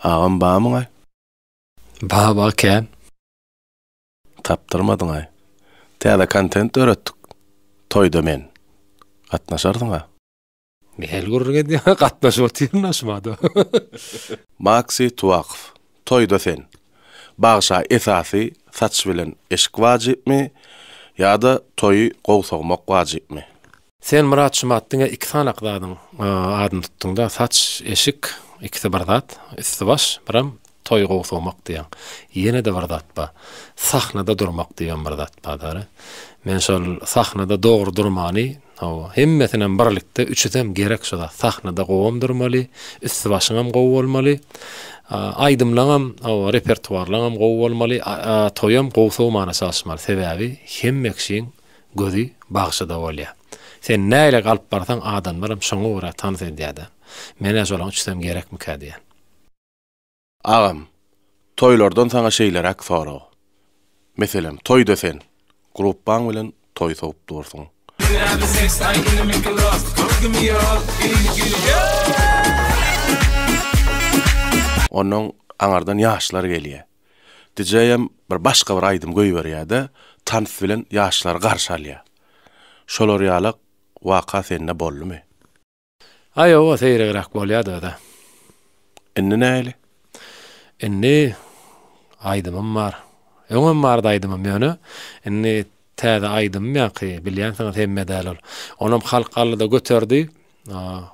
Agam bamyňaý? Baba kän. Tapdyrmadyňaý. Täze kontent döretdik. Toýda men. Gatnaşarsyňa. Nähili gürrüň edýäňä gatnaşyp otyryn-a şumada. Maksy Tuwakow. Toýda sen. Bagşa esasy saç bilen eşik wajypmy ýa-da toýy gowy sogmak wajypmy? Sen Myrat Şumat diňe iki sanak zadyň adyny tutduňda saç eşik ikisi bir zat üsti baş biram toý gowsagmak diýen ýenede bir zat ba sahnada durmak diýen bir zat ba dary men şol sahnada dogry durmany hawa hemmesinem birlikde üçüsem gerek şu zat sahnada gowam durmaly üsti başyňam gowy bolmaly aýdymlaňam hawa repertuarlaňam gowy bolmaly toýam gowsagmana çalyşmaly sebäbi hemmekşiň gözi bagşyda bolýar. Sen nähili galyp barsaň adamlaram şoňa görä tans edýärda. Menä şolaň üçüsem gerekmikä diýýän. Agam, toýlardan saňa şeýleräk sorag. Meselem, toýda sen, grupbaň bilen toý sogup dursuň. Ýüregim seks aý günümi gros Gördüm ýok il gül ýok. Onnoň aňardan ýaşlar gelýär. Dijeýem bir başga bir aýdym goýberýä-de, tans bilen ýaşlary garşy alýa. Şolar ýalak waka sende boldumy? A ýoga seýregräk bolýadyda. Indi nähili? Indi aýdymym bar. Öňem bardy aýdymym ýöne, indi täze aýdymym ýaňky bilýänsiňiz hemme däl ol. Onam halk aldyda göterdi.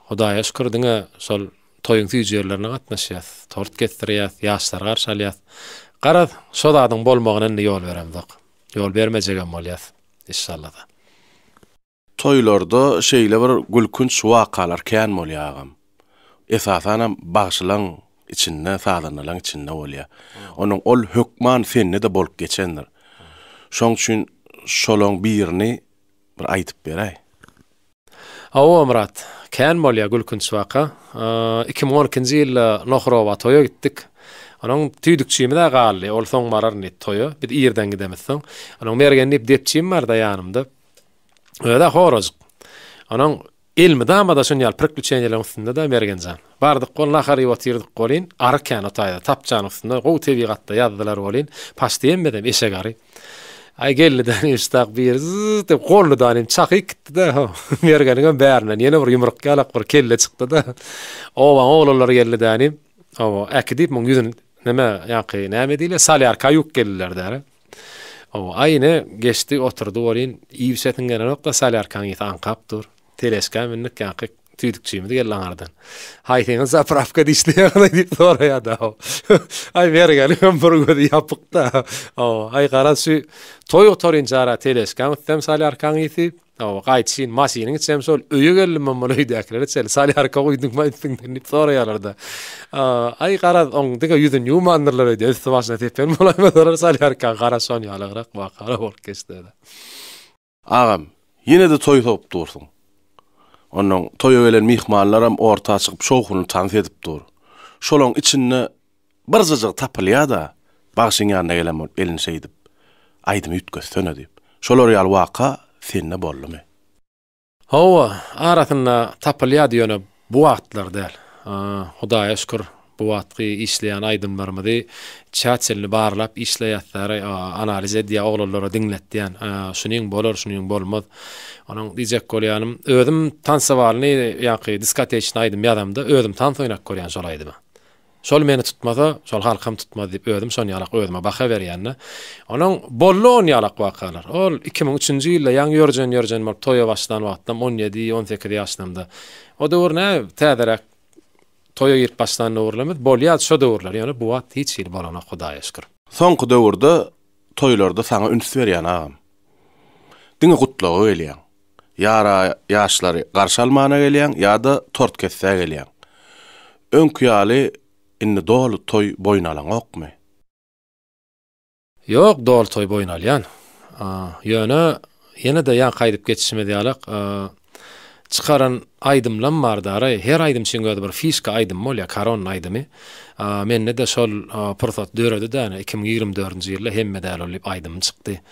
Hudaýa şükür diňe şol Toýuň süýjülerine gatnaşýas, tort kesdirýäs, ýaşlary garşy alýas. Garaz, şo zadyň bolmagyna indi ýol beremzok. Ýol bermejegem bolýas, işşalla-da. Toýlarda şeýle bir gülkünç wakalar kän bolýar agam. Esasanam bagşylaň içinde, sazandalaň içinde bolýar. Onuň ol hökman sende-de bolup geçendir. Şoň üçin şolaň birini bir aýdyp beräý. Hawa, Myrat. Kän bolýar gülkünç waka. Iki müň on ikinji ýylda Nohrowa toýa gitdik. Onuň tüýdükçimiz-ä galdy. Ol soň bararyn diýip toýa. Biz irden gidemiz soň. Onuň Mergen diýip depjim bar-da ýanymda. Özi-ä horajyk. Onuň elmydama-da şuny ýaly pirkli çeýneligiň üstünde-de Mergen jan. Bardyk bol nahar iýip otyrdyk bolyn, ary kän o taýda, tapjanyň üstünde, gowy tebigatda ýazdylar bolyn, paşt iýenmedem, eşek ary. Aý geldi däl muşdak biri zyz diýip golly danym çaky ikitdi-de, ho, Mergeniňem bärinden ýene bir ýumruk ýalak bir kelle çykdy-da, obaň oglanlary geldi dänim, oba, äki diýip muň ýüzün näme, ýaňky näme diýle, solýarka ýuwup geldiler däri. Oba, aý ine, geçdi, oturdy bolyn, iýibisesiň gelenok-da, solýarkaň ysy aňkap dur. Teleşka mündik ýaňky tüýdükçimiz geldi aňardan. Haýsyňyz zapravka dişli ýagdaý diýip soraýada. Aý mergeniň hem bir gözi ýapykda. Aw, aý garaz şu toý otarynca ara teleşkaň üstem salýarkaň ýiti. Aw, gaýdyşyn maşynyň içem şol öýe geldim men muny öýdäkilere çenli salýarka guýduňmy üstüňden diýip soraýarlarda. Aý garaz oň diňe ýüzüni ýuwmandyrlar öýde üsti başyna tepen bolaýmasalar salýarka garaz şon ýalygrak wakalar bolup geçdi. Agam, ýene-de toý sogup dursuň. Onnoň toýa gelen myhmanlaram orta çykyp şowhunly tans edip dur. Şolaň içinde birjajygy tapylýa-da, bagşyň ýanyna gelen bolup elini şeýdip, Aýdymy üýtgetsene diýip. Şolar ýaly waka sende boldumy? Hawa, arasynda tapylýady ýöne Bu wagtlar däl. Hudaýa şükür bu wagtky işleýän aýdymlarymyzy çäçelini barlap işleýäsdär, analiz edýär, oglanlara diňletýän. Şunyň bolar, şunyň bolmaz. Onuň diýjek bolýanym, özüm tansowalyny ýaňky diskoteçny aýdym ýazamda özüm tans oýnap görýän şol aýdymy. Şol meni tutmasa, şol halkam tutmaz diýip özüm şonýalak özüme baha berýän-de. Onuň boldy onýalak wakalar. Ol iki müň üçünji ýylda ýaňy ýörjen-ýörjen bolup toýa başlan wagtym, on ýedi, on sekiz ýaşlarymda. O döwür nä, täzeräk toýa girip başlan döwürlerimiz, bolýardy şo döwürler, ýöne bu wagt hiç hili bolanok, Hudaýa şükür. Soňky döwürde toýlarda saňa üns berýän agam. Diňe gutlaga gelýäň. Ýara ýaşlary garşy almana gelýäň ýa-da tort kesdä gelýäň. Öňki ýaly indi doly toý boýun alaňokmy? Ýok, doly toý boýun alýan. Ýöne ýene-de ýaňky aýdyp geçişimiz ýalak çykaran aýdymlam bar daraý. Her aýdymçyň özi bir fişka aýdymy bolýar, karon aýdymy. Mende-de şol pursat döredi-dä, iki müň ýigrimi dördünji ýylda Hemme däl ol diýip aýdymym çykdy.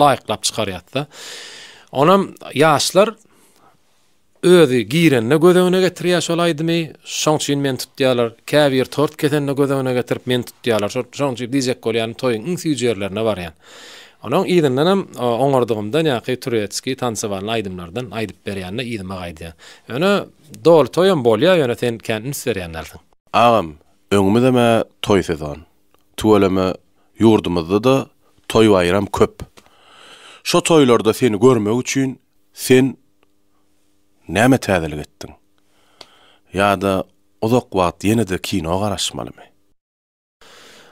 laýyklap çykarýarys-da. Onam ýaşlar özi girende göz öňüne getirýär şol aýdymy, şoň üçin meni tutýarlar. Käbir tort kesende göz öňüne getirip meni tutýarlar. Şoň üçin diýjek bolýan toýuň iň süýji ýerlerine barýan. Onuň yzyndanam oňardygymdan ýa-ki türetski tansowanly aýdymlardan aýdyp berýände yzyma gaýdýan. Ýöne doly toýam bolýar, ýöne sen kän üns berýän dälsiň. Agam, öňümizem-ä toý sezon. Tüweleme ýurdumyzda-da toý-baýram köp. Şo toýlarda seni görmek üçin sen näme täzelik etdiň? Ýa-da uzak wagt ýene-de kino garaşmalymy?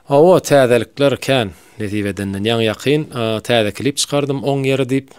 Hawa, täzelikler kän. Nesip edenden ýaňy-ýakyn täze klip çykardym, Oň ýeri diýip.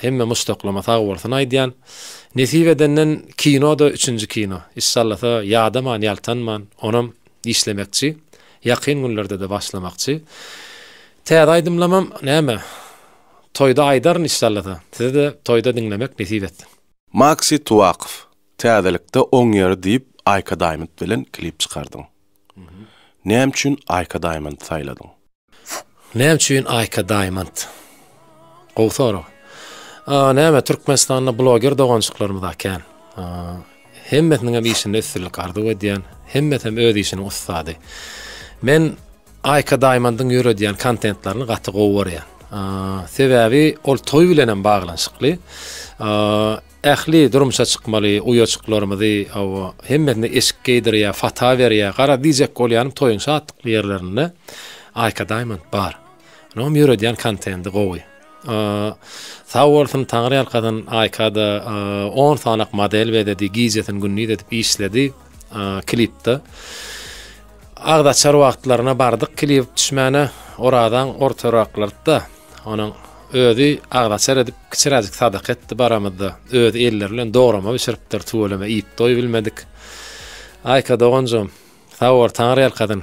Hemme muşdaklama sag bolsun aýdýan. Nesip edenden kinoda üçünji kino. Yşşallasa ýadaman ýaltanman onam işlemekçi. Ýakyn günlerdede başlamakçy. Täze aýdymlamam näme toýda aýdaryn yşşallasa. Sizede toýda diňlemek nesip etsin. Maksy Tuwakow täzelikde oň ýeri diýip Aýka Daýmynt bilen klip çykardyň. Näme üçin Aýka Daýmyndy saýladyň? Näme üçin Aýka Diamond? Gowy sorag. Näme Türkmenistanda bloger dogançyklarymyz akän. Hemmesiniň hem işinde üstünlik arzuw edýän. Hemmesi hem öz işiniň ussady. Men Aýka Diamondyň ýöredýän kontentlerini gaty gowy görýän. Sebäbi ol toý bilen hem baglanyşykly. Ähli durmuşa çykmaly uýajyklarymyzy hawa, hemmesine eşik geýdirýär, fata berýär. Gara, diýjek bolýanym toýuň şatlykly ýerlerinde Aýka Daýmond bar. Onuňam ýöredýän kontendi gowy. Sag bolsun, taňryýalkasyn, Aýka-da on sanak model bezedi, gijesini-gündiz edip işledi. klipde. Agda çar wagtlaryna bardyk klip düşmäne oradan ortaraklarda onuň özi agdaçar edip kiçiräjik sadaka etdi baramyzda. Özi elleri bilen dograma bişiripdir, tüweleme iýip doýup bilmedik. Aýka doganjym, sag bol, Taňry ýalkasyn.